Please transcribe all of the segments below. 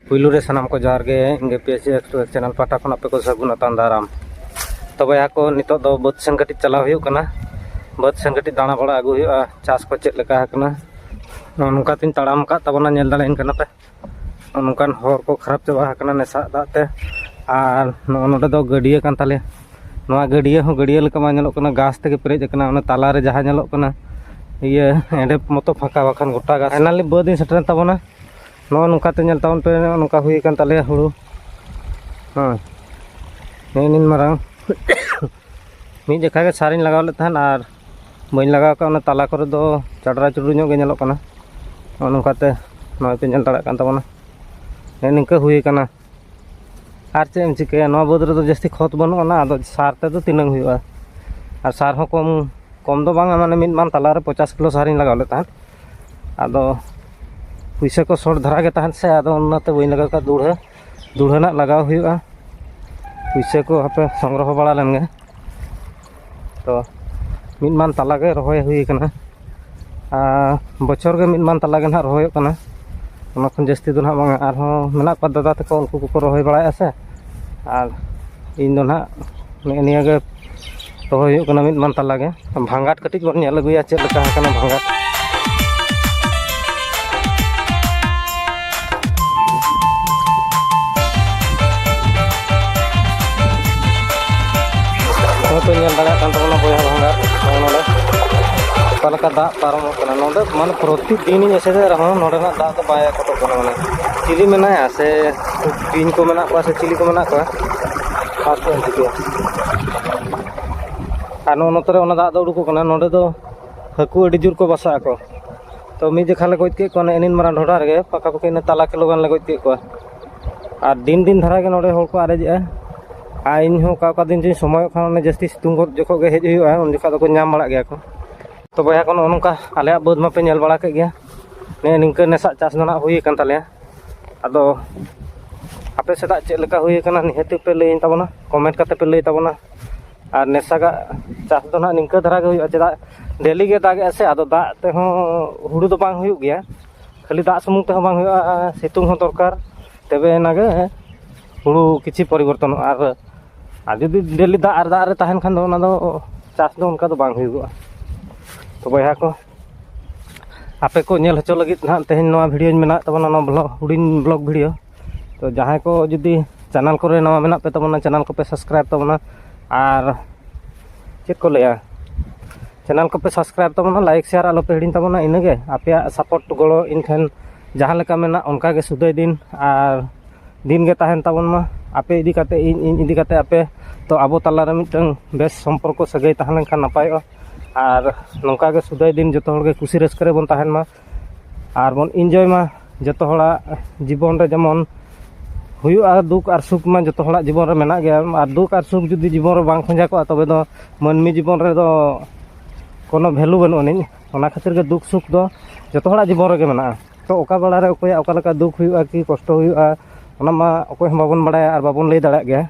ᱯᱩᱭᱞᱩ ᱨᱮ ᱥᱟᱱᱟᱢ ᱠᱚ ᱡᱚᱦᱟᱨ ᱜᱮ ᱤᱧ ᱜᱮ ᱯᱤ ᱮᱥ ᱮᱠᱥᱯᱨᱮᱥ ᱪᱮᱱᱮᱞ ᱯᱟᱦᱴᱟ ᱠᱷᱚᱱ ᱟᱯᱮ ᱠᱚ ᱥᱟᱹᱜᱩᱱ ᱟᱛᱟᱝ ᱫᱟᱨᱟᱢ ᱛᱚᱵᱮ ᱟᱠᱚ ᱱᱤᱛᱚᱜ ᱫᱚ ᱵᱟᱹᱫᱽ ᱥᱮᱱ ᱠᱟᱹᱴᱤᱡ ᱪᱟᱞᱟᱣ ᱦᱩᱭᱩᱜ ᱠᱟᱱᱟ ᱵᱟᱹᱫᱽ ᱥᱮᱱ ᱠᱟᱹᱴᱤᱡ ᱫᱟᱬᱟ ᱵᱟᱲᱟ ᱟᱹᱜᱩ ᱦᱩᱭᱩᱜᱼᱟ ᱪᱟᱥ ᱠᱚ ᱪᱮᱫ ᱞᱮᱠᱟ ᱟᱠᱟᱱᱟ ᱱᱚᱜᱼᱚ ᱱᱚᱝᱠᱟ ᱛᱤᱧ ᱛᱟᱲᱟᱢ ᱟᱠᱟᱫ ᱛᱟᱵᱚᱱᱟ ᱧᱮᱞ ᱫᱟᱲᱮᱭᱟᱹᱧ ᱠᱟᱱᱟ ᱯᱮ ᱱᱚᱜᱼᱚ ᱱᱚᱝᱠᱟᱱ ᱦᱚᱨ ᱠᱚ ᱠᱷᱟᱨᱟᱯ ᱪᱟᱵᱟ ᱟᱠᱟᱱᱟ ᱱᱮᱥᱟᱜ ᱫᱟᱜ ᱛᱮ ᱟᱨ ᱱᱚᱜᱼᱚ ᱱᱚᱰᱮ ᱫᱚ ᱜᱟᱹᱰᱭᱟᱹ ᱠᱟᱱ ᱛᱟᱞᱮᱭᱟ ᱱᱚᱣᱟ ᱜᱟᱹᱰᱭᱟᱹ ᱦᱚᱸ ᱜᱟᱹᱰᱭᱟᱹ ᱞᱮᱠᱟ ᱵᱟᱝ ᱧᱮᱞᱚᱜ ᱠᱟᱱᱟ ᱜᱷᱟᱥ ᱛᱮᱜᱮ ᱯᱮᱨᱮᱡ ᱟᱠᱟᱱᱟ ᱚᱱᱟ ᱛᱟᱞᱟᱨᱮ ᱡᱟᱦᱟᱸ ᱧᱮᱞᱚᱜ ᱠᱟᱱᱟ ᱤᱭᱟᱹ ᱮᱸᱰᱮ ᱢᱚᱛᱚ ᱯᱷᱟᱸᱠᱟ ᱵᱟᱠᱷᱟᱱ ᱜᱚᱴᱟ ᱜᱷᱟᱥ ᱯᱷᱟᱭᱱᱟᱞᱤ ᱵᱟᱹᱫᱽ ᱤᱧ ᱥᱮᱴᱮᱨᱮᱱ ᱛᱟᱵᱚᱱᱟ ᱱᱚᱜᱼᱚ ᱱᱚᱝᱠᱟᱛᱮ ᱧᱮᱞ ᱛᱟᱵᱚᱱ ᱯᱮ ᱱᱚᱜᱼᱚ ᱱᱚᱝᱠᱟ ᱦᱩᱭ ᱟᱠᱟᱱ ᱛᱟᱞᱮᱭᱟ ᱦᱩᱲᱩ ᱦᱮᱸ ᱱᱮᱜᱼᱮ ᱱᱤᱱ ᱢᱟᱨᱟᱝ ᱢᱤᱫ ᱡᱚᱠᱷᱟ ᱜᱮ ᱥᱟᱨᱤᱧ ᱞᱟᱜᱟᱣ ᱞᱮᱫ ᱛᱟᱦᱮᱸᱫ ᱟᱨ ᱵᱟᱹᱧ ᱞᱟᱜᱟᱣ ᱠᱟᱜ ᱚᱱᱟ ᱛᱟᱞᱟ ᱠᱚᱨᱮ ᱫᱚ ᱪᱟᱰᱨᱟ ᱪᱩᱰᱨᱩ ᱧᱚᱜ ᱜᱮ ᱧᱮᱞᱚᱜ ᱠᱟᱱᱟ ᱱᱚᱜᱼᱚ ᱱᱚᱝᱠᱟᱛᱮ ᱱᱚᱜᱼᱚᱭ ᱯᱮ ᱧᱮᱞ ᱫᱟᱲᱮᱭᱟᱜ ᱠᱟᱱ ᱛᱟᱵᱚᱱᱟ ᱱᱮᱜᱼᱮ ᱱᱤᱝᱠᱟᱹ ᱦᱩᱭ ᱟᱠᱟᱱᱟ ᱟᱨ ᱪᱮᱫ ᱮᱢ ᱪᱤᱠᱟᱹᱭᱟ ᱱᱚᱣᱟ ᱵᱟᱹᱫᱽ ᱨᱮᱫᱚ ᱡᱟᱹᱥᱛᱤ ᱠᱷᱚᱛ ᱵᱟᱹᱱᱩᱜ ᱟᱱᱟ ᱟᱫᱚ ᱥᱟᱨ ᱛᱮᱫᱚ ᱛᱤᱱᱟᱹᱝ ᱦᱩᱭᱩᱜᱼᱟ ᱟᱨ ᱥᱟᱨ ᱦᱚᱸ ᱠᱚᱢ ᱠᱚᱢ ᱫᱚ ᱵᱟᱝᱟ ᱢᱟᱱᱮ ᱢᱤᱫ ᱢᱟᱱ ᱛᱟᱞᱟᱨᱮ ᱯᱚᱪᱟᱥ ᱠᱤᱞᱳ ᱥᱟᱨᱤᱧ ᱞᱟᱜᱟᱣ ᱞᱮᱫ ᱛᱟᱦᱮᱸᱫ ᱟᱫᱚ ᱯᱩᱭᱥᱟᱹ ᱠᱚ ᱥᱚᱨᱴ ᱫᱷᱟᱨᱟ ᱜᱮ ᱛᱟᱦᱮᱸᱫ ᱥᱮ ᱟᱫᱚ ᱚᱱᱟᱛᱮ ᱵᱟᱹᱧ ᱞᱟᱜᱟᱣ ᱠᱟᱜᱼᱟ ᱫᱩᱲᱦᱟᱹ ᱫᱩᱲᱦᱟᱹ ᱨᱮᱱᱟᱜ ᱞᱟᱜᱟᱣ ᱦᱩᱭᱩᱜᱼᱟ ᱯᱩᱭᱥᱟᱹ ᱠᱚ ᱦᱟᱯᱮ ᱥᱚᱝᱜᱨᱚᱦᱚ ᱵᱟᱲᱟ ᱞᱮᱱᱜᱮ ᱛᱚ ᱢᱤᱫ ᱢᱟᱱ ᱛᱟᱞᱟ ᱜᱮ ᱨᱚᱦᱚᱭ ᱦᱩᱭ ᱠᱟᱱᱟ ᱟᱨ ᱵᱚᱪᱷᱚᱨ ᱜᱮ ᱢᱤᱫ ᱢᱟᱱ ᱛᱟᱞᱟ ᱜᱮ ᱱᱟᱦᱟᱜ ᱨᱚᱦᱚᱭᱚᱜ ᱠᱟᱱᱟ ᱚᱱᱟ ᱠᱷᱚᱱ ᱡᱟᱹᱥᱛᱤ ᱫᱚ ᱱᱟᱦᱟᱜ ᱵᱟᱝᱟ ᱟᱨᱦᱚᱸ ᱢᱮᱱᱟᱜ ᱠᱚᱣᱟ ᱫᱟᱫᱟ ᱛᱟᱠᱚ ᱩᱱᱠᱩ ᱠᱚᱠᱚ ᱨᱚᱦᱚᱭ ᱵᱟᱲᱟᱭᱮᱜᱼᱟ ᱥᱮ ᱟᱨ ᱤᱧ ᱫᱚ ᱱᱟᱦᱟᱜ ᱱᱮᱜᱼᱮ ᱱᱤᱭᱟᱹ ᱜᱮ ᱨᱚᱦᱚᱭ ᱦᱩᱭᱩᱜ ᱠᱟᱱᱟ ᱢᱤᱫ ᱢᱟᱱ ᱛᱟᱞᱟ ᱜᱮ ᱵᱷᱟᱸᱜᱟᱴ ᱠᱟᱹᱴᱤᱡ ᱵᱚᱱ ᱧᱮᱞ ᱟᱹᱜᱩᱭᱟ ᱪᱮᱫ ᱞᱮᱠᱟ ᱟᱠᱟᱱᱟ ᱵᱷᱟᱸᱜᱟᱴ ᱱᱚᱛᱮ ᱧᱮᱞ ᱫᱟᱲᱮᱭᱟᱜ ᱠᱟᱱ ᱛᱟᱵᱚᱱᱟ ᱵᱚᱭᱦᱟ ᱵᱷᱟᱸᱜᱟ ᱱᱚᱜᱼᱚ ᱱᱚᱰᱮ ᱚᱠᱟ ᱞᱮᱠᱟ ᱫᱟᱜ ᱯᱟᱨᱚᱢᱚᱜ ᱠᱟᱱᱟ ᱱᱚᱰᱮ ᱢᱟᱱᱮ ᱯᱨᱚᱛᱤᱫᱤᱱᱤᱧ ᱮᱥᱮᱫᱮᱫ ᱨᱮᱦᱚᱸ ᱱᱚᱰᱮᱱᱟᱜ ᱫᱟᱜ ᱫᱚ ᱵᱟᱭ ᱟᱠᱚᱴᱚᱜ ᱠᱟᱱᱟ ᱢᱟᱱᱮ ᱪᱤᱞᱤ ᱢᱮᱱᱟᱭᱟ ᱥᱮ ᱵᱤᱧ ᱠᱚ ᱢᱮᱱᱟᱜ ᱠᱚᱣᱟ ᱥᱮ ᱪᱤᱞᱤ ᱠᱚ ᱢᱮᱱᱟᱜ ᱠᱚᱣᱟ ᱠᱷᱟᱥ ᱫᱚ ᱪᱤᱠᱟᱹᱭᱟ ᱟᱨ ᱱᱚᱜᱼᱚ ᱱᱚᱛᱮ ᱨᱮ ᱚᱱᱟ ᱫᱟᱜ ᱫᱚ ᱩᱰᱩᱠᱚᱜ ᱠᱟᱱᱟ ᱱᱚᱰᱮ ᱫᱚ ᱦᱟᱹᱠᱩ ᱟᱹᱰᱤ ᱡᱳᱨ ᱠᱚ ᱵᱟᱥᱟᱜ ᱟᱠᱚ ᱛᱚ ᱢᱤᱫ ᱡᱚᱠᱷᱟ ᱞᱮ ᱜᱚᱡ ᱠᱮᱫ ᱠᱚᱣᱟ ᱤᱱᱟᱹᱜ ᱢᱟᱨᱟᱝ ᱰᱷᱚᱰᱟ ᱨᱮᱜᱮ ᱯᱟᱠᱟ ᱯᱟᱠᱤ ᱛᱟᱞᱟ ᱠᱤᱞᱳ ᱜᱟᱱ ᱞᱮ ᱜᱚᱡ ᱠᱮᱫ ᱠᱚᱣᱟ ᱟᱨ ᱫᱤᱱ ᱫᱤᱱ ᱫᱷᱟᱨᱟ ᱜᱮ ᱱᱚᱰᱮ ᱦᱚᱲ ᱠᱚ ᱟᱨᱮᱡᱮᱜᱼᱟ ᱟᱨ ᱤᱧ ᱦᱚᱸ ᱚᱠᱟ ᱚᱠᱟ ᱫᱤᱱ ᱪᱚᱧ ᱥᱚᱢᱚᱭᱚᱜ ᱠᱷᱟᱱ ᱚᱱᱮ ᱡᱟᱹᱥᱛᱤ ᱥᱤᱛᱩᱝ ᱜᱚᱫ ᱡᱚᱠᱷᱚᱱ ᱜᱮ ᱦᱮᱡ ᱦᱩᱭᱩᱜᱼᱟ ᱩᱱ ᱡᱚᱠᱷᱚᱱ ᱫᱚᱠᱚ ᱧᱟᱢ ᱵᱟᱲᱟᱜ ᱜᱮᱭᱟ ᱠᱚ ᱛᱚ ᱵᱚᱭᱦᱟ ᱠᱚ ᱱᱚᱜᱼᱚ ᱱᱚᱝᱠᱟ ᱟᱞᱮᱭᱟᱜ ᱵᱟᱹᱫᱽ ᱢᱟᱯᱮ ᱧᱮᱞ ᱵᱟᱲᱟ ᱠᱮᱫ ᱜᱮᱭᱟ ᱱᱤᱭᱟᱹ ᱱᱤᱝᱠᱟᱹ ᱱᱮᱥᱟᱜ ᱪᱟᱥ ᱫᱚ ᱱᱟᱜ ᱦᱩᱭ ᱟᱠᱟᱱ ᱛᱟᱞᱮᱭᱟ ᱟᱫᱚ ᱟᱯᱮ ᱥᱮᱫᱟᱜ ᱪᱮᱫ ᱞᱮᱠᱟ ᱦᱩᱭ ᱟᱠᱟᱱᱟ ᱱᱤᱦᱟᱹᱛ ᱯᱮ ᱞᱟᱹᱭᱟᱹᱧ ᱛᱟᱵᱚᱱᱟ ᱠᱚᱢᱮᱱᱴ ᱠᱟᱛᱮ ᱯᱮ ᱞᱟᱹᱭ ᱛᱟᱵᱚᱱᱟ ᱟᱨ ᱱᱮᱥᱟᱜᱟᱜ ᱪᱟᱥ ᱫᱚ ᱱᱟᱦᱟᱜ ᱱᱤᱝᱠᱟᱹ ᱫᱷᱟᱨᱟ ᱜᱮ ᱦᱩᱭᱩᱜᱼᱟ ᱪᱮᱫᱟᱜ ᱰᱮᱞᱤ ᱜᱮ ᱫᱟᱜ ᱮᱫᱟᱭ ᱥᱮ ᱟᱫᱚ ᱫᱟᱜ ᱛᱮᱦᱚᱸ ᱦᱩᱲᱩ ᱫᱚ ᱵᱟᱝ ᱦᱩᱭᱩᱜ ᱜᱮᱭᱟ ᱠᱷᱟᱹᱞᱤ ᱫᱟᱜ ᱥᱩᱢᱩᱝ ᱛᱮᱦᱚᱸ ᱵᱟᱝ ᱦᱩᱭᱩᱜᱼᱟ ᱥᱤᱛᱩᱝ ᱦᱚᱸ ᱫᱚᱨᱠᱟᱨ ᱛᱚᱵᱮ ᱟᱱᱟᱜ ᱜᱮ ᱦᱩᱲᱩ ᱠᱤᱪᱷᱩ ᱯᱚᱨᱤᱵᱚᱨᱛᱚᱱᱚᱜᱼᱟ ᱟᱨ ᱟᱨ ᱡᱩᱫᱤ ᱰᱮᱞᱤ ᱫᱟᱜ ᱟᱨ ᱫᱟᱜ ᱨᱮ ᱛᱟᱦᱮᱱ ᱠᱷᱟᱱ ᱫᱚ ᱚᱱᱟ ᱫᱚ ᱪᱟᱥ ᱫᱚ ᱚᱱᱠᱟ ᱫᱚ ᱵᱟᱝ ᱦᱩᱭᱩᱜᱚᱜᱼᱟ ᱛᱚ ᱵᱚᱭᱦᱟ ᱠᱚ ᱟᱯᱮ ᱠᱚ ᱧᱮᱞ ᱦᱚᱪᱚ ᱞᱟᱹᱜᱤᱫ ᱱᱟᱦᱟᱜ ᱛᱮᱦᱮᱧ ᱱᱚᱣᱟ ᱵᱷᱤᱰᱭᱳᱧ ᱵᱮᱱᱟᱣᱮᱫ ᱛᱟᱵᱚᱱᱟ ᱱᱚᱣᱟ ᱵᱞᱚᱜᱽ ᱦᱩᱰᱤᱧ ᱵᱞᱚᱜᱽ ᱵᱷᱤᱰᱭᱳ ᱛᱚ ᱡᱟᱦᱟᱸᱭ ᱠᱚ ᱡᱩᱫᱤ ᱪᱮᱱᱮᱞ ᱠᱚᱨᱮ ᱱᱟᱣᱟ ᱢᱮᱱᱟᱜ ᱯᱮ ᱛᱟᱵᱚᱱᱟ ᱪᱮᱱᱮᱞ ᱠᱚᱯᱮ ᱥᱟᱵᱥᱠᱨᱟᱭᱤᱵᱽ ᱛᱟᱵᱚᱱᱟ ᱟᱨ ᱪᱮᱫ ᱠᱚ ᱞᱟᱹᱭᱟ ᱪᱮᱱᱮᱞ ᱠᱚᱯᱮ ᱥᱟᱵᱥᱠᱨᱟᱭᱤᱵᱽ ᱛᱟᱵᱚᱱᱟ ᱞᱟᱭᱤᱠ ᱥᱮᱭᱟᱨ ᱟᱞᱚᱯᱮ ᱦᱤᱲᱤᱧ ᱛᱟᱵᱚᱱᱟ ᱤᱱᱟᱹᱜᱮ ᱟᱯᱮᱭᱟᱜ ᱥᱟᱯᱳᱨᱴ ᱜᱚᱲᱚ ᱤᱧ ᱴᱷᱮᱱ ᱡᱟᱦᱟᱸ ᱞᱮᱠᱟ ᱢᱮᱱᱟᱜ ᱚᱱᱠᱟ ᱜᱮ ᱥᱩᱫᱟᱹᱭ ᱫᱤᱱ ᱟᱨ ᱫᱤᱱ ᱜᱮ ᱛᱟᱦᱮᱱ ᱛᱟᱵᱚᱱ ᱢᱟ ᱟᱯᱮ ᱤᱫᱤ ᱠᱟᱛᱮ ᱤᱧ ᱤᱧ ᱤᱫᱤ ᱠᱟᱛᱮ ᱟᱯᱮ ᱛᱚ ᱟᱵᱚ ᱛᱟᱞᱟᱨᱮ ᱢᱤᱫᱴᱟᱝ ᱵᱮᱥ ᱥᱚᱢᱯᱚᱨᱠᱚ ᱥᱟᱹᱜᱟᱹᱭ ᱛᱟᱦᱮᱸ ᱞᱮᱱᱠᱷᱟᱱ ᱱᱟᱯᱟᱭᱚᱜᱼᱟ ᱟᱨ ᱱᱚᱝᱠᱟ ᱜᱮ ᱥᱩᱫᱟᱹᱭ ᱫᱤᱱ ᱡᱚᱛᱚ ᱦᱚᱲᱜᱮ ᱠᱩᱥᱤ ᱨᱟᱹᱥᱠᱟᱹ ᱨᱮᱵᱚᱱ ᱛᱟᱦᱮᱱ ᱢᱟ ᱟᱨ ᱵᱚᱱ ᱤᱱᱡᱚᱭ ᱢᱟ ᱡᱚᱛᱚ ᱦᱚᱲᱟᱜ ᱡᱤᱵᱚᱱ ᱨᱮ ᱡᱮᱢᱚᱱ ᱦᱩᱭᱩᱜᱼᱟ ᱫᱩᱠ ᱟᱨ ᱥᱩᱠ ᱢᱟ ᱡᱚᱛᱚ ᱦᱚᱲᱟᱜ ᱡᱤᱵᱚᱱ ᱨᱮ ᱢᱮᱱᱟᱜ ᱜᱮᱭᱟ ᱟᱨ ᱫᱩᱠ ᱟᱨ ᱥᱩᱠ ᱡᱩᱫᱤ ᱡᱤᱵᱚᱱ ᱨᱮ ᱵᱟᱝ ᱠᱷᱚᱸᱡᱟ ᱠᱚᱜᱼᱟ ᱛᱚᱵᱮ ᱫᱚ ᱢᱟᱹᱱᱢᱤ ᱡᱤᱵᱚᱱ ᱨᱮᱫᱚ ᱠᱳᱱᱳ ᱵᱷᱮᱞᱩ ᱵᱟᱹᱱᱩᱜ ᱟᱹᱱᱤᱡ ᱚᱱᱟ ᱠᱷᱟᱹᱛᱤᱨ ᱜᱮ ᱫᱩᱠ ᱥᱩᱠ ᱫᱚ ᱡᱚᱛᱚ ᱦᱚᱲᱟᱜ ᱡᱤᱵᱚᱱ ᱨᱮᱜᱮ ᱢᱮᱱᱟᱜᱼᱟ ᱛᱚ ᱚᱠᱟ ᱵᱮᱲᱟ ᱨᱮ ᱚᱠᱚᱭᱟᱜ ᱚᱠᱟ ᱞᱮᱠᱟ ᱫᱩᱠ ᱦᱩᱭᱩᱜᱼᱟ ᱠᱤ ᱠᱚᱥᱴᱚ ᱦᱩᱭᱩᱜᱼᱟ ᱚᱱᱟ ᱢᱟ ᱚᱠᱚᱭ ᱦᱚᱸ ᱵᱟᱵᱚᱱ ᱵᱟᱲᱟᱭᱟ ᱟᱨ ᱵᱟᱵᱚᱱ ᱞᱟᱹᱭ ᱫᱟᱲᱮᱭᱟᱜ ᱜᱮᱭᱟ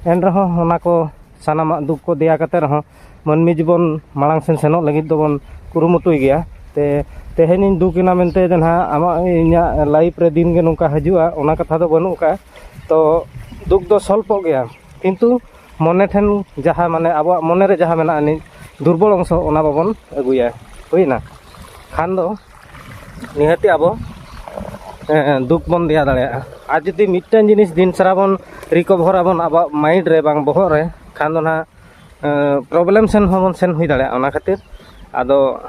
ᱮᱱ ᱨᱮᱦᱚᱸ ᱚᱱᱟ ᱠᱚ ᱥᱟᱱᱟᱢᱟᱜ ᱫᱩᱠ ᱠᱚ ᱫᱮᱭᱟ ᱠᱟᱛᱮᱫ ᱨᱮᱦᱚᱸ ᱢᱟᱹᱱᱢᱤ ᱡᱤᱵᱚᱱ ᱢᱟᱲᱟᱝ ᱥᱮᱱ ᱥᱮᱱᱚᱜ ᱞᱟᱹᱜᱤᱫ ᱫᱚᱵᱚᱱ ᱠᱩᱨᱩᱢᱩᱴᱩᱭ ᱜᱮᱭᱟ ᱛᱮ ᱛᱮᱦᱮᱧᱤᱧ ᱫᱩᱠ ᱮᱱᱟ ᱢᱮᱱᱛᱮ ᱫᱚ ᱱᱟᱦᱟᱜ ᱟᱢᱟᱜ ᱤᱧᱟᱹᱜ ᱞᱟᱭᱤᱯᱷ ᱨᱮ ᱫᱤᱱ ᱜᱮ ᱱᱚᱝᱠᱟ ᱦᱤᱡᱩᱜᱼᱟ ᱚᱱᱟ ᱠᱟᱛᱷᱟ ᱫᱚ ᱵᱟᱹᱱᱩᱜ ᱟᱠᱟᱫᱼᱟ ᱛᱚ ᱫᱩᱠ ᱫᱚ ᱥᱚᱞᱯᱚᱜ ᱜᱮᱭᱟ ᱠᱤᱱᱛᱩ ᱢᱚᱱᱮ ᱴᱷᱮᱱ ᱡᱟᱦᱟᱸ ᱢᱟᱱᱮ ᱟᱵᱚᱣᱟᱜ ᱢᱚᱱᱮ ᱨᱮ ᱡᱟᱦᱟᱸ ᱢᱮᱱᱟᱜ ᱟᱹᱱᱤᱡ ᱫᱩᱨᱵᱚᱞ ᱚᱝᱥᱚ ᱚᱱᱟ ᱵᱟᱵᱚᱱ ᱟᱹᱜᱩᱭᱟ ᱦᱩᱭᱱᱟ ᱠᱷᱟᱱ ᱫᱚ ᱱᱤᱦᱟᱹᱛᱤ ᱟᱵᱚ ᱫᱩᱠ ᱵᱚᱱ ᱫᱮᱭᱟ ᱫᱟᱲᱮᱭᱟᱜᱼᱟ ᱟᱨ ᱡᱩᱫᱤ ᱢᱤᱫᱴᱟᱹᱝ ᱡᱤᱱᱤᱥ ᱫᱤᱱ ᱥᱟᱨᱟ ᱵᱚᱱ ᱨᱤᱠᱚᱵᱷᱚᱨ ᱟᱵᱚᱱ ᱟᱵᱚᱣᱟᱜ ᱢᱟᱭᱤᱱᱰ ᱨᱮ ᱵᱟᱝ ᱵᱚᱦᱚᱜ ᱨᱮ ᱠᱷᱟᱱ ᱫᱚ ᱱᱟᱦᱟᱜ ᱯᱨᱚᱵᱞᱮᱢ ᱥᱮᱱ ᱦᱚᱸᱵᱚᱱ ᱥᱮᱱ ᱦᱩᱭ ᱫᱟᱲᱮᱭᱟᱜᱼᱟ ᱚᱱᱟ ᱠᱷᱟᱹᱛᱤᱨ ᱟᱫᱚ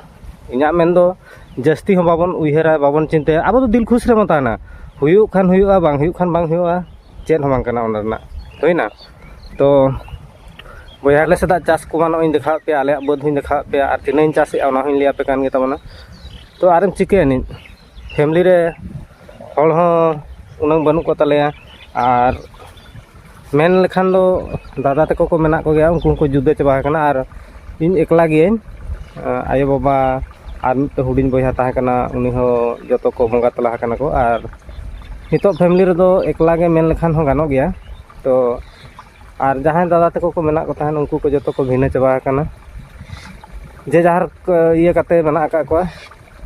ᱤᱧᱟᱹᱜ ᱢᱮᱱᱫᱚ ᱡᱟᱹᱥᱛᱤ ᱦᱚᱸ ᱵᱟᱵᱚᱱ ᱩᱭᱦᱟᱹᱨᱟ ᱵᱟᱵᱚᱱ ᱪᱤᱱᱛᱟᱹᱭᱟ ᱟᱵᱚ ᱫᱚ ᱫᱤᱞ ᱠᱷᱩᱥ ᱨᱮᱵᱚᱱ ᱛᱟᱦᱮᱱᱟ ᱦᱩᱭᱩᱜ ᱠᱷᱟᱱ ᱦᱩᱭᱩᱜᱼᱟ ᱵᱟᱝ ᱦᱩᱭᱩᱜ ᱠᱷᱟᱱ ᱵᱟᱝ ᱦᱩᱭᱩᱜᱼᱟ ᱪᱮᱫ ᱦᱚᱸ ᱵᱟᱝ ᱠᱟᱱᱟ ᱚᱱᱟ ᱨᱮᱱᱟᱜ ᱦᱩᱭᱱᱟ ᱛᱚ ᱵᱚᱭᱦᱟ ᱟᱞᱮ ᱥᱮᱫᱟᱜ ᱪᱟᱥ ᱠᱚᱢᱟ ᱱᱚᱜᱼᱚᱭ ᱤᱧ ᱫᱮᱠᱷᱟᱣᱟᱫ ᱯᱮᱭᱟ ᱟᱞᱮᱭᱟᱜ ᱵᱟᱹᱫᱽ ᱦᱚᱸᱧ ᱫᱮᱠᱷᱟᱣᱟᱫ ᱯᱮᱭᱟ ᱟᱨ ᱛᱤᱱᱟᱹᱜ ᱤᱧ ᱪᱟᱥᱮᱫᱼᱟ ᱚᱱᱟ ᱦᱚᱸᱧ ᱞᱟᱹᱭᱟᱯᱮ ᱠᱟᱱ ᱜᱮᱛᱟᱵᱚᱱᱟ ᱛᱚ ᱟᱨᱮᱢ ᱪᱤᱠᱟᱹᱭᱟ ᱱᱤᱛ ᱯᱷᱮᱢᱮᱞᱤ ᱨᱮ ᱦᱚᱲ ᱦᱚᱸ ᱩᱱᱟᱹᱜ ᱵᱟᱹᱱᱩᱜ ᱠᱚᱛᱟᱞᱮᱭᱟ ᱟᱨ ᱢᱮᱱ ᱞᱮᱠᱷᱟᱱ ᱫᱚ ᱫᱟᱫᱟ ᱛᱟᱠᱚ ᱠᱚ ᱢᱮᱱᱟᱜ ᱠᱚᱜᱮᱭᱟ ᱩᱱᱠᱩ ᱦᱚᱸᱠᱚ ᱡᱩᱫᱟᱹ ᱪᱟᱵᱟ ᱟᱠᱟᱱᱟ ᱟᱨ ᱤᱧ ᱮᱠᱞᱟ ᱜᱤᱭᱟᱹᱧ ᱟᱭᱳᱼᱵᱟᱵᱟ ᱟᱨ ᱢᱤᱫᱴᱮᱱ ᱦᱩᱰᱤᱧ ᱵᱚᱭᱦᱟ ᱛᱟᱦᱮᱸ ᱠᱟᱱᱟ ᱩᱱᱤ ᱦᱚᱸ ᱡᱚᱛᱚ ᱠᱚ ᱵᱚᱸᱜᱟ ᱛᱟᱞᱟ ᱟᱠᱟᱱᱟ ᱠᱚ ᱟᱨ ᱱᱤᱛᱚᱜ ᱯᱷᱮᱢᱮᱞᱤ ᱨᱮᱫᱚ ᱮᱠᱞᱟ ᱜᱮ ᱢᱮᱱ ᱞᱮᱠᱷᱟᱱ ᱦᱚᱸ ᱜᱟᱱᱚᱜ ᱜᱮᱭᱟ ᱛᱳ ᱟᱨ ᱡᱟᱦᱟᱸᱭ ᱫᱟᱫᱟ ᱛᱟᱠᱚ ᱠᱚ ᱢᱮᱱᱟᱜ ᱠᱚ ᱛᱟᱦᱮᱸᱫ ᱩᱱᱠᱩ ᱠᱚ ᱡᱚᱛᱚ ᱠᱚ ᱵᱷᱤᱱᱟᱹ ᱪᱟᱵᱟ ᱟᱠᱟᱱᱟ ᱡᱮ ᱡᱟᱦᱟᱨ ᱤᱭᱟᱹ ᱠᱟᱛᱮ ᱢᱮᱱᱟᱜ ᱟᱠᱟᱫ ᱠᱚᱣᱟ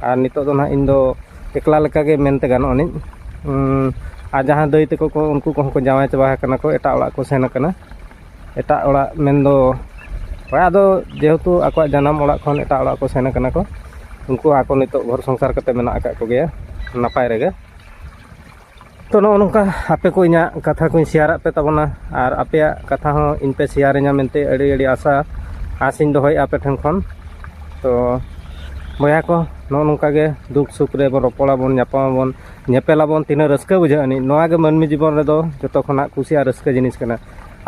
ᱟᱨ ᱱᱤᱛᱚᱜ ᱫᱚ ᱱᱟᱦᱟᱜ ᱤᱧ ᱫᱚ ᱮᱠᱞᱟ ᱞᱮᱠᱟᱜᱮ ᱢᱮᱱᱛᱮ ᱜᱟᱱᱚᱜ ᱟᱹᱱᱤᱡ ᱟᱨ ᱡᱟᱦᱟᱸ ᱫᱟᱹᱭ ᱛᱟᱠᱚ ᱠᱚ ᱩᱱᱠᱩ ᱠᱚᱦᱚᱸ ᱠᱚ ᱡᱟᱶᱟᱭ ᱪᱟᱵᱟ ᱟᱠᱟᱱᱟ ᱠᱚ ᱮᱴᱟᱜ ᱚᱲᱟᱜ ᱠᱚ ᱥᱮᱱ ᱟᱠᱟᱱᱟ ᱮᱴᱟᱜ ᱚᱲᱟᱜ ᱢᱮᱱᱫᱚ ᱦᱳᱭ ᱟᱫᱚ ᱡᱮᱦᱮᱛᱩ ᱟᱠᱚᱣᱟᱜ ᱡᱟᱱᱟᱢ ᱚᱲᱟᱜ ᱠᱷᱚᱱ ᱮᱴᱟᱜ ᱚᱲᱟᱜ ᱠᱚ ᱥᱮᱱ ᱟᱠᱟᱱᱟ ᱠᱚ ᱩᱱᱠᱩ ᱟᱠᱚ ᱱᱤᱛᱚᱜ ᱜᱷᱚᱨ ᱥᱚᱝᱥᱟᱨ ᱠᱟᱛᱮ ᱢᱮᱱᱟᱜ ᱟᱠᱟᱫ ᱠᱚᱜᱮᱭᱟ ᱱᱟᱯᱟᱭ ᱨᱮᱜᱮ ᱛᱚ ᱱᱚᱜᱼᱚ ᱱᱚᱝᱠᱟ ᱟᱯᱮ ᱠᱚ ᱤᱧᱟᱹᱜ ᱠᱟᱛᱷᱟ ᱠᱚᱧ ᱥᱮᱭᱟᱨᱟᱫ ᱯᱮ ᱛᱟᱵᱚᱱᱟ ᱟᱨ ᱟᱯᱮᱭᱟᱜ ᱠᱟᱛᱷᱟ ᱦᱚᱸ ᱤᱧ ᱯᱮ ᱥᱮᱭᱟᱨᱤᱧᱟ ᱢᱮᱱᱛᱮ ᱟᱹᱰᱤ ᱟᱹᱰᱤ ᱟᱥᱟ ᱟᱥᱤᱧ ᱫᱚᱦᱚᱭᱮᱫᱼᱟ ᱟᱯᱮ ᱴᱷᱮᱱ ᱠᱷᱚᱱ ᱛᱚ ᱵᱚᱭᱦᱟ ᱠᱚ ᱱᱚᱜᱼᱚ ᱱᱚᱝᱠᱟ ᱜᱮ ᱫᱩᱠ ᱥᱩᱠ ᱨᱮᱵᱚᱱ ᱨᱚᱯᱚᱲᱟᱵᱚᱱ ᱧᱟᱯᱟᱢᱟᱵᱚᱱ ᱧᱮᱯᱮᱞᱟᱵᱚᱱ ᱛᱤᱱᱟᱹᱜ ᱨᱟᱹᱥᱠᱟᱹ ᱵᱩᱡᱷᱟᱹᱜ ᱟᱹᱱᱤᱡ ᱱᱚᱣᱟ ᱜᱮ ᱢᱟᱹᱱᱢᱤ ᱡᱤᱵᱚᱱ ᱨᱮᱫᱚ ᱡᱚᱛᱚ ᱠᱷᱚᱱᱟᱜ ᱠᱩᱥᱤ ᱟᱨ ᱨᱟᱹᱥᱠᱟᱹ ᱡᱤᱱᱤᱥ ᱠᱟᱱᱟ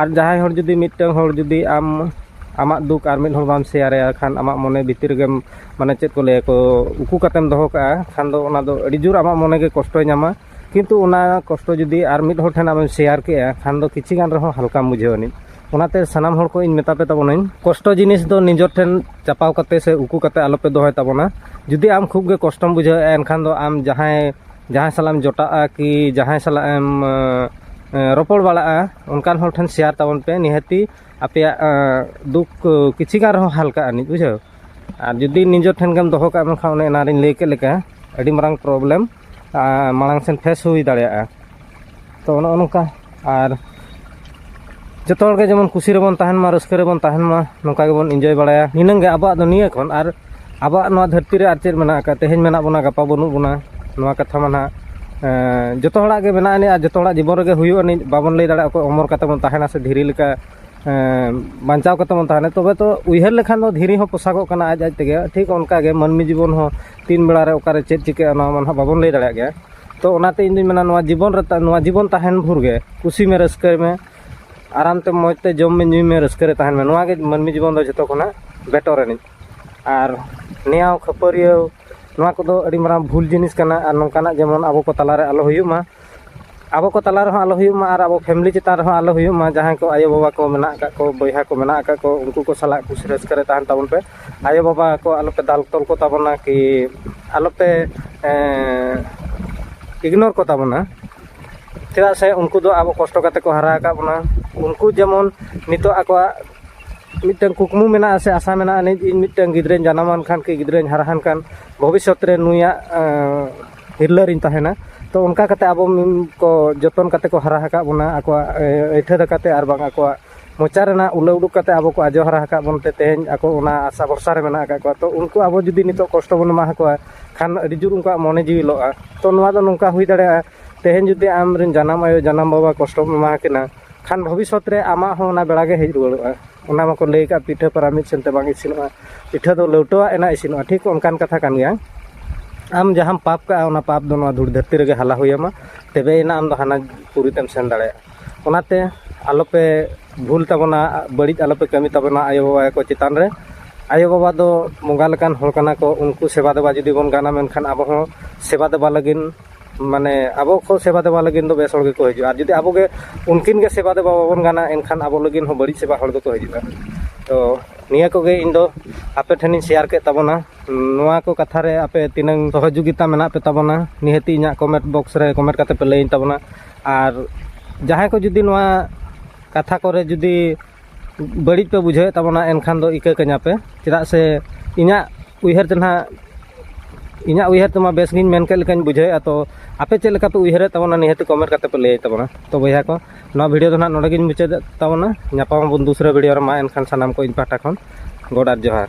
ᱟᱨ ᱡᱟᱦᱟᱸᱭ ᱦᱚᱲ ᱡᱩᱫᱤ ᱢᱤᱫᱴᱟᱹᱝ ᱦᱚᱲ ᱡᱩᱫᱤ ᱟᱢ ᱟᱢᱟᱜ ᱫᱩᱠ ᱟᱨ ᱢᱤᱫ ᱦᱚᱲ ᱵᱟᱢ ᱥᱮᱭᱟᱨᱟᱭᱟ ᱠᱷᱟᱱ ᱟᱢᱟᱜ ᱢᱚᱱᱮ ᱵᱷᱤᱛᱤᱨ ᱨᱮᱜᱮᱢ ᱢᱟᱱᱮ ᱪᱮᱫ ᱠᱚ ᱞᱟᱹᱭᱟ ᱠᱚ ᱩᱠᱩ ᱠᱟᱛᱮᱢ ᱫᱚᱦᱚ ᱠᱟᱜᱼᱟ ᱠᱷᱟᱱ ᱫᱚ ᱚᱱᱟ ᱫᱚ ᱟᱹᱰᱤ ᱡᱳᱨ ᱟᱢᱟᱜ ᱢᱚᱱᱮ ᱜᱮ ᱠᱚᱥᱴᱚᱭ ᱧᱟᱢᱟ ᱠᱤᱱᱛᱩ ᱚᱱᱟ ᱠᱚᱥᱴᱚ ᱡᱩᱫᱤ ᱟᱨ ᱢᱤᱫ ᱦᱚᱲ ᱴᱷᱮᱱ ᱟᱢᱮᱢ ᱥᱮᱭᱟᱨ ᱠᱮᱜᱼᱟ ᱠᱷᱟᱱ ᱫᱚ ᱠᱤᱪᱷᱩ ᱜᱟᱱ ᱨᱮᱦᱚᱸ ᱦᱟᱞᱠᱟᱢ ᱵᱩᱡᱷᱟᱹᱣ ᱟᱹᱱᱤᱡ ᱚᱱᱟᱛᱮ ᱥᱟᱱᱟᱢ ᱦᱚᱲ ᱠᱚ ᱤᱧ ᱢᱮᱛᱟ ᱯᱮ ᱛᱟᱵᱚᱱᱟᱹᱧ ᱠᱚᱥᱴᱚ ᱡᱤᱱᱤᱥ ᱫᱚ ᱱᱤᱡᱚᱨ ᱴᱷᱮᱱ ᱪᱟᱯᱟᱣ ᱠᱟᱛᱮ ᱥᱮ ᱩᱠᱩ ᱠᱟᱛᱮ ᱟᱞᱚᱯᱮ ᱫᱚᱦᱚᱭ ᱛᱟᱵᱚᱱᱟ ᱡᱩᱫᱤ ᱟᱢ ᱠᱷᱩᱵ ᱜᱮ ᱠᱚᱥᱴᱚᱢ ᱵᱩᱡᱷᱟᱹᱣᱮᱜᱼᱟ ᱮᱱᱠᱷᱟᱱ ᱫᱚ ᱟᱢ ᱡᱟᱦᱟᱸᱭ ᱡᱟᱦᱟᱸᱭ ᱥᱟᱞᱟᱜ ᱮᱢ ᱡᱚᱴᱟᱜᱼᱟ ᱠᱤ ᱡᱟᱦᱟᱸᱭ ᱥᱟᱞᱟᱜ ᱮᱢ ᱨᱚᱯᱚᱲ ᱵᱟᱲᱟᱜᱼᱟ ᱚᱱᱠᱟᱱ ᱦᱚᱲ ᱴᱷᱮᱱ ᱥᱮᱭᱟᱨ ᱛᱟᱵᱚᱱ ᱯᱮ ᱱᱤᱦᱟᱹᱛᱤ ᱟᱯᱮᱭᱟᱜ ᱫᱩᱠ ᱠᱤᱪᱷᱩ ᱜᱟᱱ ᱨᱮᱦᱚᱸ ᱦᱟᱞᱠᱟᱜ ᱟᱹᱱᱤᱡ ᱵᱩᱡᱷᱟᱹᱣ ᱟᱨ ᱡᱩᱫᱤ ᱱᱤᱡᱮ ᱴᱷᱮᱱ ᱜᱮᱢ ᱫᱚᱦᱚ ᱠᱟᱜ ᱢᱮᱠᱷᱟᱱ ᱚᱱᱮ ᱮᱱᱟᱨᱤᱧ ᱞᱟᱹᱭ ᱠᱮᱫ ᱞᱮᱠᱟ ᱟᱹᱰᱤ ᱢᱟᱨᱟᱝ ᱯᱨᱚᱵᱞᱮᱢ ᱢᱟᱲᱟᱝ ᱥᱮᱱ ᱯᱷᱮᱥ ᱦᱩᱭ ᱫᱟᱲᱮᱭᱟᱜᱼᱟ ᱛᱚ ᱱᱚᱜᱼᱚ ᱱᱚᱝᱠᱟ ᱟᱨ ᱡᱚᱛᱚ ᱦᱚᱲᱜᱮ ᱡᱮᱢᱚᱱ ᱠᱩᱥᱤ ᱨᱮᱵᱚᱱ ᱛᱟᱦᱮᱱ ᱢᱟ ᱨᱟᱹᱥᱠᱟᱹ ᱨᱮᱵᱚᱱ ᱛᱟᱦᱮᱱ ᱢᱟ ᱱᱚᱝᱠᱟ ᱜᱮᱵᱚᱱ ᱤᱱᱡᱚᱭ ᱵᱟᱲᱟᱭᱟ ᱱᱤᱱᱟᱹᱝ ᱜᱮ ᱟᱵᱚᱣᱟᱜ ᱫᱚ ᱱᱤᱭᱟᱹ ᱠᱷᱚᱱ ᱟᱨ ᱟᱵᱚᱣᱟᱜ ᱱᱚᱣᱟ ᱫᱷᱟᱹᱨᱛᱤ ᱨᱮ ᱟᱨ ᱪᱮᱫ ᱢᱮᱱᱟᱜ ᱟᱠᱟᱫ ᱛᱮᱦᱮᱧ ᱢᱮᱱᱟᱜ ᱵᱚᱱᱟ ᱜᱟᱯᱟ ᱵᱟᱹᱱᱩᱜ ᱵᱚᱱᱟ ᱱᱚᱣᱟ ᱠᱟᱛᱷᱟ ᱢᱟ ᱱᱟᱦᱟᱜ ᱡᱚᱛᱚ ᱦᱚᱲᱟᱜ ᱜᱮ ᱢᱮᱱᱟᱜ ᱟᱹᱱᱤᱡ ᱟᱨ ᱡᱚᱛᱚ ᱦᱚᱲᱟᱜ ᱡᱤᱵᱚᱱ ᱨᱮᱜᱮ ᱦᱩᱭᱩᱜ ᱟᱹᱱᱤᱡ ᱵᱟᱵᱚᱱ ᱞᱟᱹᱭ ᱫᱟᱲᱮᱭᱟᱜᱼᱟ ᱚᱠᱚᱭ ᱚᱢᱚᱨ ᱠᱟᱛᱮᱫ ᱵᱚᱱ ᱛᱟᱦᱮᱱᱟ ᱥᱮ ᱫᱷᱤᱨᱤ ᱞᱮᱠᱟ ᱵᱟᱧᱪᱟᱣ ᱠᱟᱛᱮ ᱵᱚᱱ ᱛᱟᱦᱮᱱᱟ ᱛᱚᱵᱮ ᱛᱚ ᱩᱭᱦᱟᱹᱨ ᱞᱮᱠᱷᱟᱱ ᱫᱚ ᱫᱷᱤᱨᱤ ᱦᱚᱸ ᱯᱚᱥᱟᱜᱚᱜ ᱠᱟᱱᱟ ᱟᱡ ᱟᱡ ᱛᱮᱜᱮ ᱴᱷᱤᱠ ᱚᱱᱠᱟ ᱜᱮ ᱢᱟᱹᱱᱢᱤ ᱡᱤᱵᱚᱱ ᱦᱚᱸ ᱛᱤᱱ ᱵᱮᱲᱟ ᱨᱮ ᱚᱠᱟᱨᱮ ᱪᱮᱫ ᱪᱤᱠᱟᱹᱜᱼᱟ ᱚᱱᱟ ᱢᱟ ᱱᱟᱦᱟᱜ ᱵᱟᱵᱚᱱ ᱞᱟᱹᱭ ᱫᱟᱲᱮᱭᱟᱜ ᱜᱮᱭᱟ ᱛᱚ ᱚᱱᱟᱛᱮ ᱤᱧ ᱫᱩᱧ ᱢᱮᱱᱟ ᱱᱚᱣᱟ ᱡᱤᱵᱚᱱ ᱨᱮ ᱱᱚᱣᱟ ᱡᱤᱵᱚᱱ ᱛᱟᱦᱮᱱ ᱵᱷᱳᱨ ᱜᱮ ᱠᱩᱥᱤ ᱢᱮ ᱨᱟᱹᱥᱠᱟᱹᱭ ᱢᱮ ᱟᱨᱟᱢ ᱛᱮ ᱢᱚᱡᱽ ᱛᱮ ᱡᱚᱢ ᱢᱮ ᱧᱩᱭ ᱢᱮ ᱨᱟᱹᱥᱠᱟᱹ ᱨᱮ ᱛᱟᱦᱮᱱ ᱢᱮ ᱱᱚᱣᱟ ᱜᱮ ᱢᱟᱹᱱᱢᱤ ᱡᱤᱵᱚᱱ ᱫᱚ ᱡᱚᱛᱚ ᱠᱷᱚᱱᱟᱜ ᱵᱮᱴᱚᱨ ᱟᱹᱱᱤᱡ ᱟᱨ ᱱᱮᱭᱟᱣ ᱠᱷᱟᱹᱯᱟᱹᱨᱤᱭᱟᱹᱣ ᱱᱚᱣᱟ ᱠᱚᱫᱚ ᱟᱹᱰᱤ ᱢᱟᱨᱟᱝ ᱵᱷᱩᱞ ᱡᱤᱱᱤᱥ ᱠᱟᱱᱟ ᱟᱨ ᱱᱚᱝᱠᱟᱱᱟᱜ ᱡᱮᱢᱚᱱ ᱟᱵᱚ ᱠᱚ ᱛᱟᱞᱟᱨᱮ ᱟᱞᱚ ᱦᱩᱭᱩᱜ ᱢᱟ ᱟᱵᱚ ᱠᱚ ᱛᱟᱞᱟ ᱨᱮᱦᱚᱸ ᱟᱞᱚ ᱦᱩᱭᱩᱜ ᱢᱟ ᱟᱨ ᱟᱵᱚ ᱯᱷᱮᱢᱮᱞᱤ ᱪᱮᱛᱟᱱ ᱨᱮᱦᱚᱸ ᱟᱞᱚ ᱦᱩᱭᱩᱜ ᱢᱟ ᱡᱟᱦᱟᱸᱭ ᱠᱚ ᱟᱭᱳᱼᱵᱟᱵᱟ ᱠᱚ ᱢᱮᱱᱟᱜ ᱠᱟᱜ ᱠᱚ ᱵᱚᱭᱦᱟ ᱠᱚ ᱢᱮᱱᱟᱜ ᱠᱟᱜ ᱠᱚ ᱩᱱᱠᱩ ᱠᱚ ᱥᱟᱞᱟᱜ ᱠᱩᱥᱤ ᱨᱟᱹᱥᱠᱟᱹ ᱨᱮ ᱛᱟᱦᱮᱱ ᱛᱟᱵᱚᱱ ᱯᱮ ᱟᱭᱳᱼᱵᱟᱵᱟ ᱠᱚ ᱟᱞᱚ ᱯᱮ ᱫᱟᱞ ᱛᱚᱞ ᱠᱚᱛᱟ ᱵᱚᱱᱟ ᱠᱤ ᱟᱞᱚ ᱯᱮ ᱤᱜᱽᱱᱳᱨ ᱠᱚᱛᱟ ᱵᱚᱱᱟ ᱪᱮᱫᱟᱜ ᱥᱮ ᱩᱱᱠᱩ ᱫᱚ ᱟᱵᱚ ᱠᱚᱥᱴᱚ ᱠᱟᱛᱮ ᱠᱚ ᱦᱟᱨᱟ ᱟᱠᱟᱫ ᱵᱚᱱᱟ ᱩᱱᱠᱩ ᱡᱮᱢᱚᱱ ᱱᱤᱛᱚᱜ ᱟᱠᱚᱣᱟᱜ ᱢᱤᱫᱴᱟᱹᱱ ᱠᱩᱠᱢᱩ ᱢᱮᱱᱟᱜᱼᱟ ᱥᱮ ᱟᱥᱟ ᱢᱮᱱᱟᱜᱼᱟ ᱤᱧ ᱢᱤᱫᱴᱟᱹᱱ ᱜᱤᱫᱽᱨᱟᱹᱧ ᱡᱟᱱᱟᱢᱟᱱ ᱠᱷᱟᱱ ᱠᱤ ᱜᱤᱫᱽᱨᱟᱹᱧ ᱦᱟᱨᱟᱣᱟᱱ ᱠᱷᱟᱱ ᱵᱷᱚᱵᱤᱥᱥᱚᱛ ᱨᱮ ᱱᱩᱭᱟᱜ ᱛᱤᱨᱞᱟᱹ ᱨᱤᱧ ᱛᱟᱦᱮᱱᱟ ᱛᱚ ᱚᱱᱠᱟ ᱠᱟᱛᱮ ᱟᱵᱚ ᱠᱚ ᱡᱚᱛᱚᱱ ᱠᱟᱛᱮ ᱠᱚ ᱦᱟᱨᱟ ᱟᱠᱟᱫ ᱵᱚᱱᱟ ᱟᱠᱚᱣᱟᱜ ᱟᱹᱭᱴᱷᱟᱹ ᱫᱟᱠᱟᱛᱮ ᱟᱨ ᱵᱟᱝ ᱟᱠᱚᱣᱟᱜ ᱢᱚᱪᱟ ᱨᱮᱱᱟᱜ ᱩᱞᱟᱹ ᱩᱰᱩᱠ ᱠᱟᱛᱮ ᱟᱵᱚ ᱠᱚ ᱟᱡᱚ ᱦᱟᱨᱟ ᱟᱠᱟᱫ ᱵᱚᱱ ᱛᱮ ᱛᱮᱦᱮᱧ ᱟᱠᱚ ᱚᱱᱟ ᱟᱥᱟ ᱵᱷᱚᱨᱥᱟ ᱨᱮ ᱢᱮᱱᱟᱜ ᱟᱠᱟᱫ ᱠᱚᱣᱟ ᱛᱚ ᱩᱱᱠᱩ ᱟᱵᱚ ᱡᱩᱫᱤ ᱱᱤᱛᱚᱜ ᱠᱚᱥᱴᱚ ᱵᱚᱱ ᱮᱢᱟ ᱟᱠᱚᱣᱟ ᱠᱷᱟᱱ ᱟᱹᱰᱤ ᱡᱳᱨ ᱩᱱᱠᱩᱣᱟᱜ ᱢᱚᱱᱮ ᱡᱤᱣᱤ ᱞᱚᱜᱼᱟ ᱛᱚ ᱱᱚᱣᱟ ᱫᱚ ᱱᱚᱝᱠᱟ ᱦᱩᱭ ᱫᱟᱲᱮᱭᱟᱜᱼᱟ ᱛᱮᱦᱮᱧ ᱡᱩᱫᱤ ᱟᱢ ᱨᱮᱱ ᱡᱟᱱᱟᱢ ᱟᱭᱳ ᱡᱟᱱᱟᱢ ᱵᱟᱵᱟ ᱠᱚᱥᱴᱚᱢ ᱮᱢᱟ ᱟᱠᱤᱱᱟ ᱠᱷᱟᱱ ᱵᱷᱚᱵᱤᱥᱥᱚᱛ ᱨᱮ ᱟᱢᱟᱜ ᱦᱚᱸ ᱚᱱᱟ ᱵᱮᱲᱟ ᱜᱮ ᱦᱮᱡ ᱨᱩᱣᱟᱹᱲᱚᱜᱼᱟ ᱚᱱᱟ ᱢᱟᱠᱚ ᱞᱟᱹᱭ ᱠᱟᱜ ᱯᱤᱴᱷᱟᱹ ᱯᱟᱨᱟ ᱢᱤᱫ ᱥᱮᱱᱛᱮ ᱵᱟᱝ ᱤᱥᱤᱱᱚᱜᱼᱟ ᱯᱤᱴᱷᱟᱹ ᱫᱚ ᱞᱟᱹᱣᱴᱟᱹᱣᱟᱜ ᱮᱱᱟ ᱤᱥᱤᱱᱚᱜᱼᱟ ᱴᱷᱤᱠ ᱚᱱᱠᱟᱱ ᱠᱟᱛᱷᱟ ᱠᱟᱱ ᱜᱮᱭᱟ ᱟᱢ ᱡᱟᱦᱟᱸᱢ ᱯᱟᱯ ᱠᱟᱜᱼᱟ ᱚᱱᱟ ᱯᱟᱯ ᱫᱚ ᱱᱚᱣᱟ ᱫᱷᱩᱲ ᱫᱷᱟᱹᱨᱛᱤ ᱨᱮᱜᱮ ᱦᱟᱞᱟ ᱦᱩᱭᱟᱢᱟ ᱛᱚᱵᱮᱭᱮᱱᱟ ᱟᱢ ᱫᱚ ᱦᱟᱱᱟ ᱯᱩᱨᱤ ᱛᱮᱢ ᱥᱮᱱ ᱫᱟᱲᱮᱭᱟᱜᱼᱟ ᱚᱱᱟᱛᱮ ᱟᱞᱚᱯᱮ ᱵᱷᱩᱞ ᱛᱟᱵᱚᱱᱟ ᱵᱟᱹᱲᱤᱡ ᱟᱞᱚᱯᱮ ᱠᱟᱹᱢᱤ ᱛᱟᱵᱚᱱᱟ ᱟᱭᱳᱼᱵᱟᱵᱟ ᱠᱚ ᱪᱮᱛᱟᱱ ᱨᱮ ᱟᱭᱳᱼᱵᱟᱵᱟ ᱫᱚ ᱵᱚᱸᱜᱟ ᱞᱮᱠᱟᱱ ᱦᱚᱲ ᱠᱟᱱᱟ ᱠᱚ ᱩᱱᱠᱩ ᱥᱮᱵᱟ ᱫᱮᱵᱟ ᱡᱩᱫᱤ ᱵᱚᱱ ᱜᱟᱱᱟ ᱢᱮᱱᱠᱷᱟᱱ ᱟᱵᱚ ᱦᱚᱸ ᱥᱮᱵᱟ ᱫᱮᱵᱟ ᱞᱟᱹᱜᱤᱫ ᱢᱟᱱᱮ ᱟᱵᱚ ᱠᱚ ᱥᱮᱵᱟ ᱫᱮᱵᱟ ᱞᱟᱹᱜᱤᱫ ᱫᱚ ᱵᱮᱥ ᱦᱚᱲ ᱜᱮᱠᱚ ᱦᱤᱡᱩᱜᱼᱟ ᱟᱨ ᱡᱩᱫᱤ ᱟᱵᱚ ᱜᱮ ᱩᱱᱠᱤᱱ ᱜᱮ ᱥᱮᱵᱟ ᱫᱮᱵᱟ ᱵᱟᱵᱚᱱ ᱜᱟᱱᱟ ᱮᱱᱠᱷᱟᱱ ᱟᱵᱚ ᱞᱟᱹᱜᱤᱫ ᱦᱚᱸ ᱵᱟᱹᱲᱤᱡ ᱥᱮᱵᱟ ᱦᱚᱲ ᱫᱚᱠᱚ ᱦᱤᱡᱩᱜᱼᱟ ᱛᱚ ᱱᱤᱭᱟᱹ ᱠᱚᱜᱮ ᱤᱧ ᱫᱚ ᱟᱯᱮ ᱴᱷᱮᱱᱤᱧ ᱥᱮᱭᱟᱨ ᱠᱮᱫ ᱛᱟᱵᱚᱱᱟ ᱱᱚᱣᱟ ᱠᱚ ᱠᱟᱛᱷᱟ ᱨᱮ ᱟᱯᱮ ᱛᱤᱱᱟᱹᱝ ᱥᱚᱦᱚᱡᱳᱜᱤᱛᱟ ᱢᱮᱱᱟᱜ ᱯᱮ ᱛᱟᱵᱚᱱᱟ ᱱᱤᱦᱟᱹᱛ ᱤᱧᱟᱹᱜ ᱠᱚᱢᱮᱱᱴ ᱵᱚᱠᱥ ᱨᱮ ᱠᱚᱢᱮᱱᱴ ᱠᱟᱛᱮ ᱯᱮ ᱞᱟᱹᱭᱟᱹᱧ ᱛᱟᱵᱚᱱᱟ ᱟᱨ ᱡᱟᱦᱟᱸᱭ ᱠᱚ ᱡᱩᱫᱤ ᱱᱚᱣᱟ ᱠᱟᱛᱷᱟ ᱠᱚᱨᱮ ᱡᱩᱫᱤ ᱵᱟᱹᱲᱤᱡ ᱯᱮ ᱵᱩᱡᱷᱟᱹᱣᱮᱫ ᱛᱟᱵᱚᱱᱟ ᱮᱱᱠᱷᱟᱱ ᱫᱚ ᱤᱠᱟᱹ ᱠᱟᱹᱧᱟ ᱯᱮ ᱪᱮᱫᱟᱜ ᱥᱮ ᱤᱧᱟᱹᱜ ᱩᱭᱦᱟᱹᱨ ᱛᱮ ᱱᱟᱦᱟᱜ ᱤᱧᱟᱹᱜ ᱩᱭᱦᱟᱹᱨ ᱛᱮᱢᱟ ᱵᱮᱥ ᱜᱤᱧ ᱢᱮᱱ ᱠᱮᱫ ᱞᱮᱠᱟᱧ ᱵᱩᱡᱷᱟᱹᱣᱮᱫᱼᱟ ᱛᱚ ᱟᱯᱮ ᱪᱮᱫ ᱞᱮᱠᱟ ᱯᱮ ᱩᱭᱦᱟᱹᱨᱮᱫ ᱛᱟᱵᱚᱱᱟ ᱱᱤᱦᱟᱹᱛ ᱠᱚᱢᱮᱱᱴ ᱠᱟᱛᱮᱫ ᱯᱮ ᱞᱟᱹᱭ ᱛᱟᱵᱚᱱᱟ ᱛᱚ ᱵᱚᱭᱦᱟ ᱠᱚ ᱱᱚᱣᱟ ᱵᱷᱤᱰᱤᱭᱳ ᱫᱚ ᱱᱟᱦᱟᱜ ᱱᱚᱰᱮ ᱜᱤᱧ ᱢᱩᱪᱟᱹᱫᱮᱫ ᱛᱟᱵᱚᱱᱟ ᱧᱟᱯᱟᱢ ᱟᱵᱚᱱ ᱫᱩᱥᱨᱟᱹ ᱵᱷᱤᱰᱤᱭᱳ ᱨᱮ ᱢᱟ ᱮᱱᱠᱷᱟᱱ ᱥᱟᱱᱟᱢ ᱠᱚ ᱤᱧ ᱯᱟᱦᱴᱟ ᱠᱷᱚᱱ ᱜᱚᱰ ᱟᱨ ᱡᱚᱦᱟᱨ